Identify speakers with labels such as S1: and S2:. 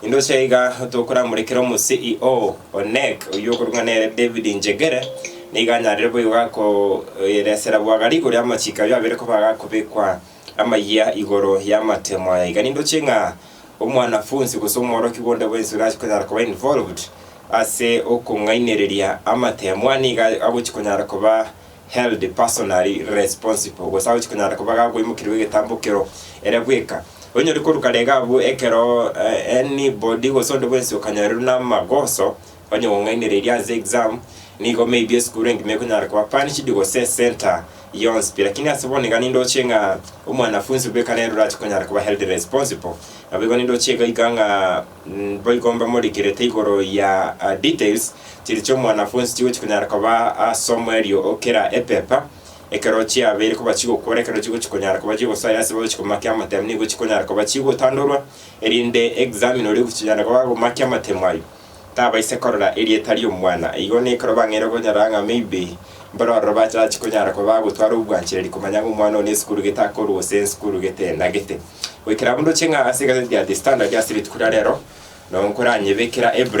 S1: Indoche iga tokoramorekera omo CEO o NEC oyio okorwa nere David Njegere nigo anyarire boigo gakoeresera bwagari igoro y'amachiko ayio abere koba agakobekwa amayia igoro y'amatemo aya. Iga nindoche ng'a omwanafunsi gose omworokigwa onde bwensi orache konyara koba involved ase okong'ainereria amatemo aya nigo agochi konyara koba held personally responsible, gose agochia konyara koba gakoimokerigwa egetambo kero ere bweka. Onye ori koruka rega abwo ekero any body gose onde bwensi okanyorerwa namagoso, onye gong'ainereria ase exam, nigo maybe esukuru engima ekonyara koba punished gose ecentre yonsi pi. Lakini ase bono iga nindoche ng'a omwanafunsi bweka nere orache konyara koba held responsible, naboigo nindoche iga iga ng'a. Boigo mbamorikirete igoro ya details chiria chi'omwanafunsi chigochia konyara koba Samuel oo kera epepa. Ekero chiabeire koba chigokora, ekero chigochia konyara koba chigosaya ase bagochia komakia amatemu nigo chikonyara koba chigotandorwa, erinde examiner oria ogochia koba agomakia amatemu ayio tabaisa korora erieta ri'omwana. Igo nekero bang'eire okonyora ng'a maybe mbare ororo batachi konyara koba bagotwara obwanchereri komanya ng'a omwana oyo nesukuru gete akorwa gose nsukuru gete na gete. Goikera buna oche ng'a ase egazeti ya The Standard ase rituko ria rero, nonkoranyebekera ebre